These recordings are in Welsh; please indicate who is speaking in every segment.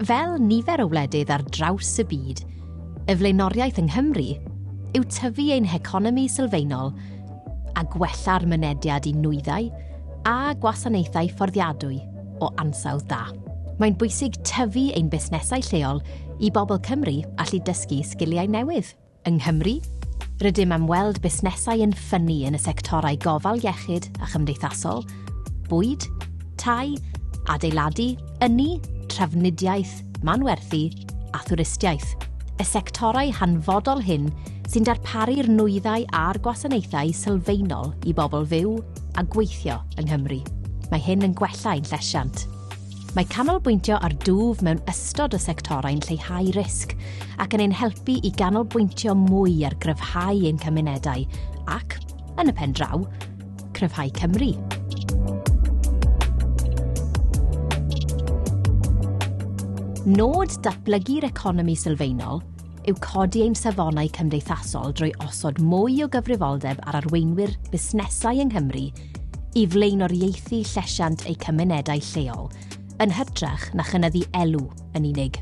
Speaker 1: Fel nifer o wledydd ar draws y byd, y flaenoriaeth yng Nghymru yw tyfu ein heconomi sylfaenol a gwella'r mynediad i nwyddau a gwasanaethau fforddiadwy o ansawdd da. Mae'n bwysig tyfu ein busnesau lleol i bobl Cymru allu dysgu sgiliau newydd. Yng Nghymru, rydym am weld busnesau yn ffynnu yn y sectorau gofal iechyd a chymdeithasol, bwyd, tai, adeiladu, ynni, trafnidiaeth, manwerthu a thwristiaeth, y sectorau hanfodol hyn sy'n darparu'r nwyddau a'r gwasanaethau sylfaenol i bobl fyw a gweithio yng Nghymru. Mae hyn yn gwella ein llesiant. Mae canolbwyntio ar dwf mewn ystod o sectorau'n lleihau risg ac yn ein helpu i ganolbwyntio mwy ar gryfhau ein cymunedau ac, yn y pen draw, cryfhau Cymru. Nod datblygu'r economi sylfaenol yw codi ein safonau cymdeithasol drwy osod mwy o gyfrifoldeb ar arweinwyr busnesau yng Nghymru i flaenoriaethu llesiant eu cymunedau lleol, yn hytrach na chynyddu elw yn unig.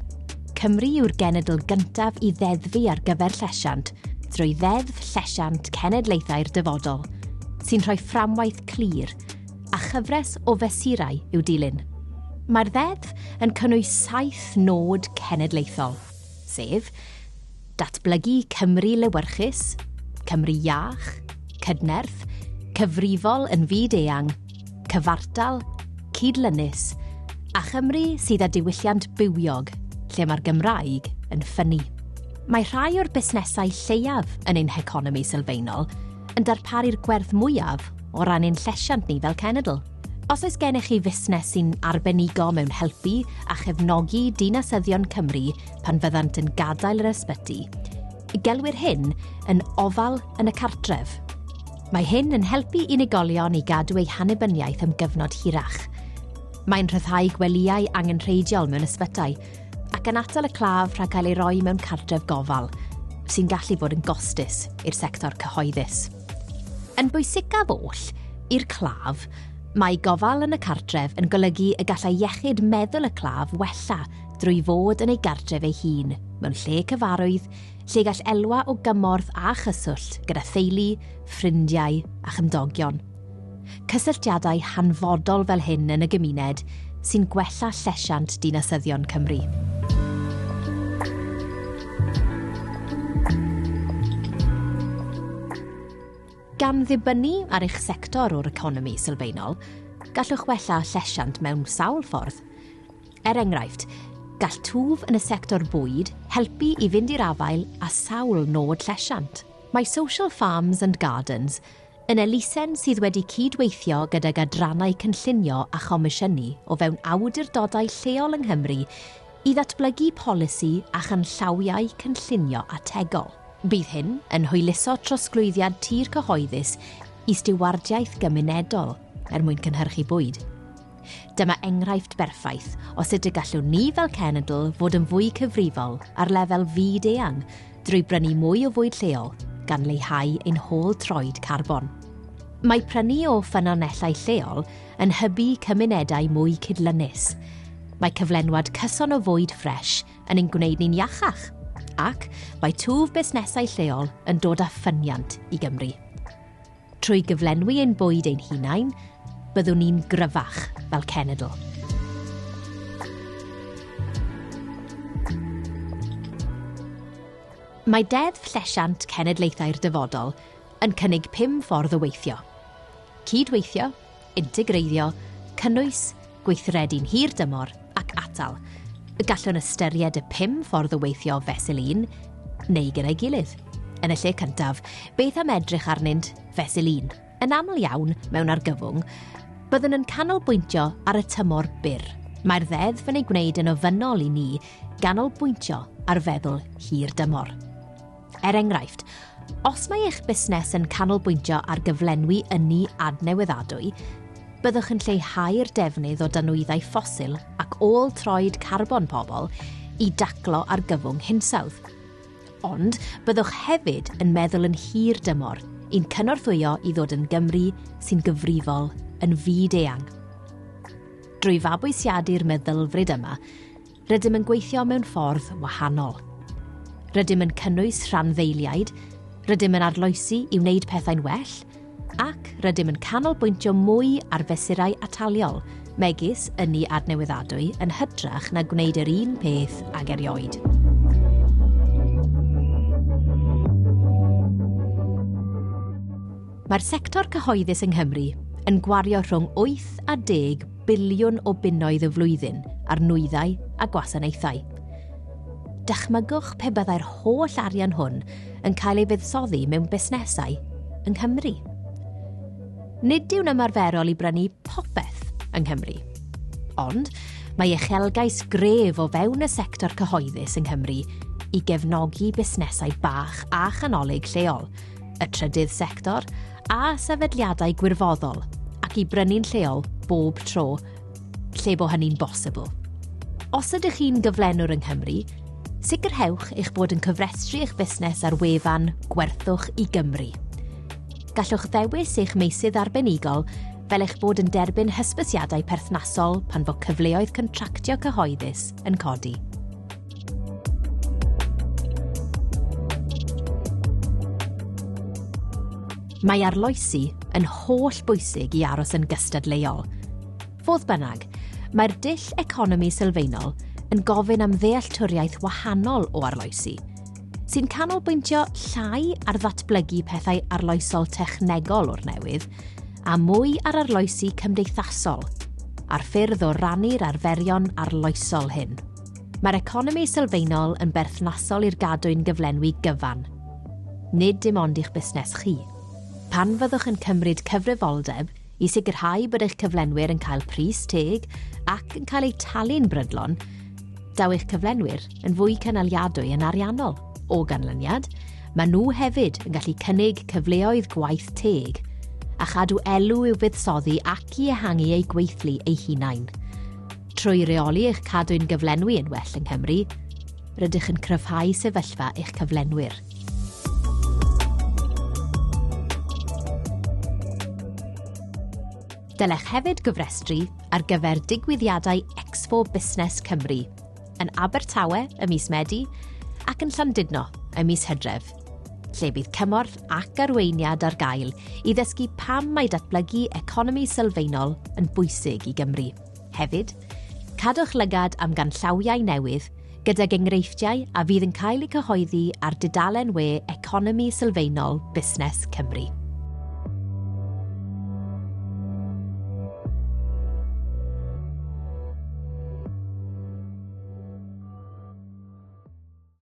Speaker 1: Cymru yw'r genedl gyntaf i ddeddfu ar gyfer llesiant drwy Ddeddf Llesiant Cenedlaethau'r Dyfodol, sy'n rhoi fframwaith clir a chyfres o fesurau i'w dilyn. Mae'r ddeddf yn cynnwys saith nod cenedlaethol, sef, Datblygu Cymru lewyrchus, Cymru iach, cydnerth, cyfrifol yn fyd eang, cyfartal, cydlynus, a Chymru sydd â diwylliant bywiog, lle mae'r Gymraeg yn ffynnu. Mae rhai o'r busnesau lleiaf yn ein heconomi sylfaenol yn darparu'r gwerth mwyaf o ran ein llesiant ni fel cenedl. Os oes gennych chi fusnes sy'n arbenigo mewn helpu a chefnogi dinasyddion Cymru pan fyddant yn gadael yr ysbyty. Gelwir hyn yn ofal yn y cartref. Mae hyn yn helpu unigolion i gadw eu hanibyniaeth am gyfnod hirach. Mae'n rhyddhau gwelyau angenrheidiol mewn ysbytai ac yn atal y claf rhag cael ei roi mewn cartref gofal, sy'n gallu bod yn gostus i'r sector cyhoeddus. Yn bwysicaf oll, i'r claf, Mae gofal yn y cartref yn golygu y gallai iechyd meddwl y claf wella drwy fod yn ei gartref ei hun, mewn lle cyfarwydd, lle gall elwa o gymorth a chyswllt gyda theulu, ffrindiau a chymdogion. Cysylltiadau hanfodol fel hyn yn y gymuned sy'n gwella llesiant dinasyddion Cymru. Gan ddibynnu ar eich sector o'r economi sylfaenol, gallwch wella llesiant mewn sawl ffordd. Er enghraifft, gall twf yn y sector bwyd helpu i fynd i'r afael â sawl nod llesiant. Mae Social Farms and Gardens yn elusen sydd wedi cyd-weithio gydag adrannau cynllunio a chomisiynu o fewn awdurdodau lleol yng Nghymru i ddatblygu polisi a chanllawiau cynllunio ategol. Bydd hyn yn hwyluso trosglwyddiad tir cyhoeddus i stiwardiaeth gymunedol er mwyn cynhyrchu bwyd. Dyma enghraifft berffaith o sut y gallwn ni fel cenedl fod yn fwy cyfrifol ar lefel fyd-eang drwy brynu mwy o fwyd lleol, gan leihau ein hôl troed carbon. Mae prynu o ffynonellau lleol yn hybu cymunedau mwy cydlynus. Mae cyflenwad cyson o fwyd ffres yn ein gwneud ni'n iachach, ac mae twf busnesau lleol yn dod â ffyniant i Gymru. Trwy gyflenwi ein bwyd ein hunain, byddwn ni'n gryfach fel cenedl. Mae Deddf Llesiant Cenedlaethau'r Dyfodol yn cynnig pum ffordd o weithio. Cyd-weithio, integreiddio, cynnwys, gweithredu'n hir dymor ac atal. Gallwn ystyried y pum ffordd o weithio fesul un neu gyda'i gilydd. Yn y lle cyntaf, beth am edrych arnynt fesul un? Yn aml iawn, mewn argyfwng, byddwn yn canolbwyntio ar y tymor byr. Mae'r ddeddf yn ei gwneud yn ofynnol i ni ganolbwyntio ar feddwl hir dymor. Er enghraifft, os mae eich busnes yn canolbwyntio ar gyflenwi ynni adnewyddadwy, byddwch yn lleihau'r defnydd o danwyddau ffosil ac ôl troed carbon pobl i daclo argyfwng hinsawdd. Ond byddwch hefyd yn meddwl yn hir dymor i'n cynorthwyo i ddod yn Gymru sy'n gyfrifol yn fyd eang. Drwy fabwysiadu'r meddylfryd yma, rydym yn gweithio mewn ffordd wahanol. Rydym yn cynnwys rhanddeiliaid, rydym yn arloesi i wneud pethau'n well, ac rydym yn canolbwyntio mwy ar fesurau ataliol, megis ynni adnewyddadwy yn hytrach na gwneud yr un peth ag erioed. Mae'r sector cyhoeddus yng Nghymru yn gwario rhwng 8 a 10 biliwn o bunnoedd y flwyddyn ar nwyddau a gwasanaethau. Dychmygwch pe byddai'r holl arian hwn yn cael ei fuddsoddi mewn busnesau yng Nghymru. Nid yw'n ymarferol i brynu popeth yng Nghymru. Ond mae uchelgais gref o fewn y sector cyhoeddus yng Nghymru i gefnogi busnesau bach a chanolig lleol, y trydydd sector a sefydliadau gwirfoddol ac i brynu'n lleol bob tro lle bo hynny'n bosibl. Os ydych chi'n gyflenwr yng Nghymru, sicrhewch eich bod yn cyfrestru eich busnes ar wefan Gwerthwch i Gymru. Gallwch ddewis eich meysydd arbenigol fel eich bod yn derbyn hysbysiadau perthnasol pan fo cyfleoedd contractio cyhoeddus yn codi. Mae arloesi yn holl bwysig i aros yn gystadleuol. Fodd bynnag, mae'r dull economi sylfaenol yn gofyn am ddealltwriaeth wahanol o arloesi, sy'n canolbwyntio llai ar ddatblygu pethau arloesol technegol o'r newydd, a mwy ar arloesi cymdeithasol, a'r ffyrdd o rannu'r arferion arloesol hyn. Mae'r economi sylfaenol yn berthnasol i'r gadwyn gyflenwi gyfan, nid dim ond i'ch busnes chi. Pan fyddwch yn cymryd cyfrifoldeb i sicrhau bod eich cyflenwyr yn cael pris teg ac yn cael eu talu'n brydlon, daw eich cyflenwyr yn fwy cynaliadwy yn ariannol. O ganlyniad, mae nhw hefyd yn gallu cynnig cyfleoedd gwaith teg a chadw elw i'w buddsoddi ac i ehangu eu gweithlu eu hunain. Trwy reoli eich cadwyn gyflenwi yn well yng Nghymru, rydych yn cryfhau sefyllfa eich cyflenwyr. Dylech hefyd gyfrestru ar gyfer digwyddiadau Expo Busnes Cymru yn Abertawe ym mis Medi ac yn Llandudno ym mis Hydref, lle bydd cymorth ac arweiniad ar gael i ddysgu pam mae datblygu economi sylfaenol yn bwysig i Gymru. Hefyd, cadwch lygad am ganllawiau newydd gydag enghreifftiau a fydd yn cael eu cyhoeddi ar dudalen we Economi Sylfaenol Busnes Cymru.